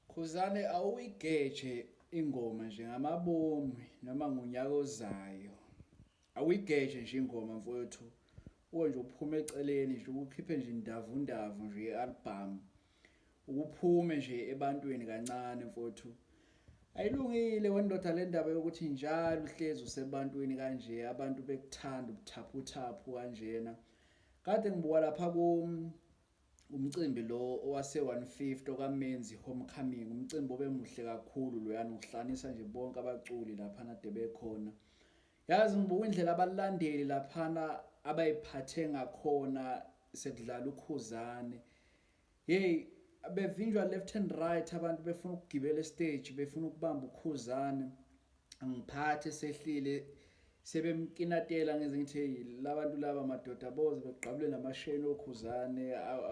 Khuzane awuyigeje ingoma nje ngamabomi noma ngonyaka ozayo awuyigeje nje ingoma mfowethu uwe nje uphume eceleni nje ukukhiphe nje indavu ndavu nje i-album ukuphume nje ebantwini kancane mfowethu ayilungile wendoda le ndaba yokuthi njalo uhlezi usebantwini kanje abantu bekuthanda ubuthaphuthaphu kanjena kade ngibuka lapha kum Umcimbi lo owase-150 okaMenzi Homecoming, umcimbi obemuhle kakhulu loyana uhlanisa nje bonke abaculi laphana de bekhona. Yazi ngibuka indlela abalandeli laphana abayiphathe ngakhona sekudlala ukhuzane. Hey, bevinjwa left and right abantu befuna ukugibela estage, befuna ukubamba ukhuzane. angiphathi esehlile sebemkinatela ngenze ngithi hey labantu laba madoda boze begqabule namasheni okhuzane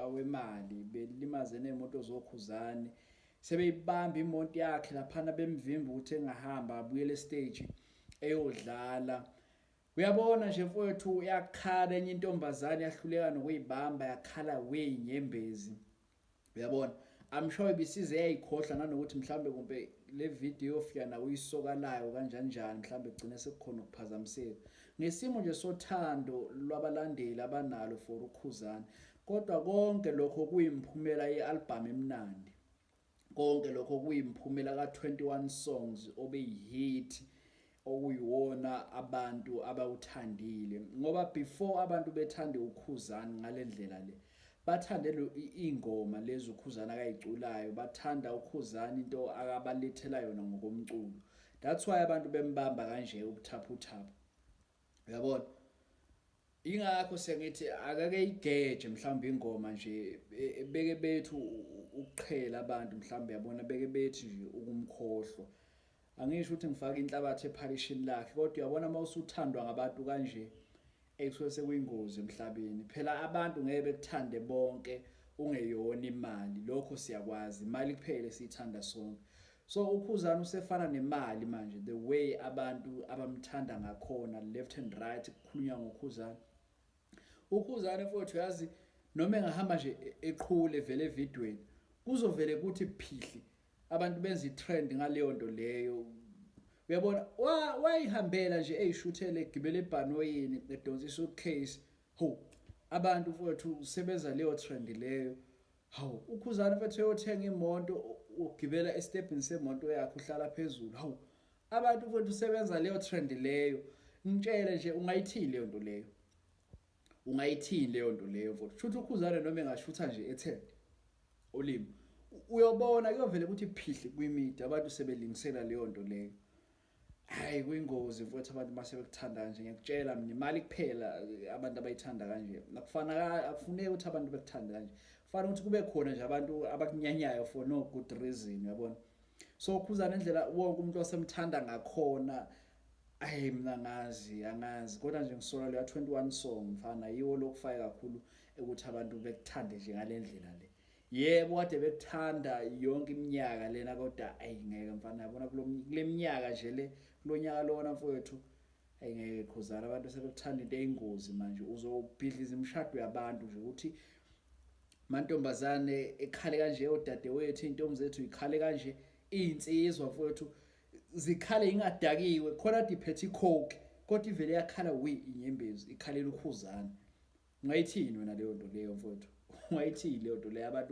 awemali belimaze nemoto zokhuzane sebeyibamba imoto yakhe laphana bemvimba ukuthi engahamba abuyele stage eyodlala uyabona nje mfowethu yakhala enye intombazane yahluleka nokuyibamba yakhala weyinyembezi uyabona i'm sure ibisize yayikhohla nanokuthi mhlambe kumbe le video yofika nawe uyisokalayo kanjani njani mhlambe kugcine sekukhona ukuphazamiseka ngesimo nje sothando lwabalandeli abanalo for ukhuzana kodwa konke lokho kuyimphumela ye-albhamu emnandi konke lokho kuyimphumela ka-21 songs obeyihit okuyiwona abantu abawuthandile ngoba before abantu bethande ukhuzani ngalendlela le bathande lo ingoma lezi ukhuzani akayiculayo bathanda ukhuzani into akabalethela yona ngokomculo that's why abantu bembamba kanje ubuthaphuthaphu uyabona Ingakho sengithi akake igeje mhlawumbe ingoma nje e, beke bethu ukuqhela abantu mhlawumbe yabona beke bethi nje ukumkhohlwa. Angisho ukuthi ngifaka inhlabathi ephalishini lakhe kodwa uyabona uma usuthandwa ngabantu kanje ekusuke sekuyingozi emhlabeni. Phela abantu ngeke bekuthande bonke ungeyona imali. Lokho siyakwazi. Imali kuphela esiyithanda sonke. So ukhuzani usefana nemali manje the way abantu abamthanda ngakhona left and right kukhulunywa ngokhuzani ukhuzani mfowethu yazi noma engahamba nje e-, eqhule vele evidweni kuzovele kuthi phihli abantu benza itrend ngaleyo nto leyo uyabona wayihambela nje eyishuthele egibele ebhanoyini edonsisa ucase ho abantu mfowethu sebenza leyo trend leyo Hawu ukhuzani mfethu eyothenga imoto ugibela estepini semoto yakhe uhlala phezulu. Hawu abantu mfethu usebenza leyo trend leyo. Ngitshele nje ungayithini leyo nto leyo. Ungayithini leyo nto leyo mfethu. Shutha ukhuzane noma engashutha nje ethe ulimi. Uyobona kuyovela ukuthi phihli kwimidi abantu sebelingisela leyo nto leyo. hayi kuyingozi mfowethu abantu uma sebekuthanda kanje ngiyakutshela mina imali kuphela abantu abayithanda kanje akufana akufuneki ukuthi abantu bekuthande kanje kufanele ukuthi kube khona nje abantu abakunyanyayo for no good reason yabona so khuzana indlela wonke umuntu osemthanda ngakhona ayi mina ngazi angazi kodwa nje ngisola leya 21 song mfana yiwo lokufaya kakhulu ukuthi abantu bekuthande nje ngalendlela le Yebo kade bekuthanda yonke iminyaka lena kodwa ayingeke mfana yabona kuleminyaka nje le kulonyaka lona mfowethu ayingeke khuzana abantu sebekuthanda into eyingozi manje uzobhidliza imishado yabantu nje ukuthi mantombazane ekhale kanje odadewethu intombi zethu ikhale kanje izinsizwa mfowethu zikhale ingadakiwe khona diphethe icoke kodwa ivele yakhala we inyembezi ikhalela ukhuzana Ungayithini wena leyo nto leyo mfowethu? Ungayithini leyo nto leyo abantu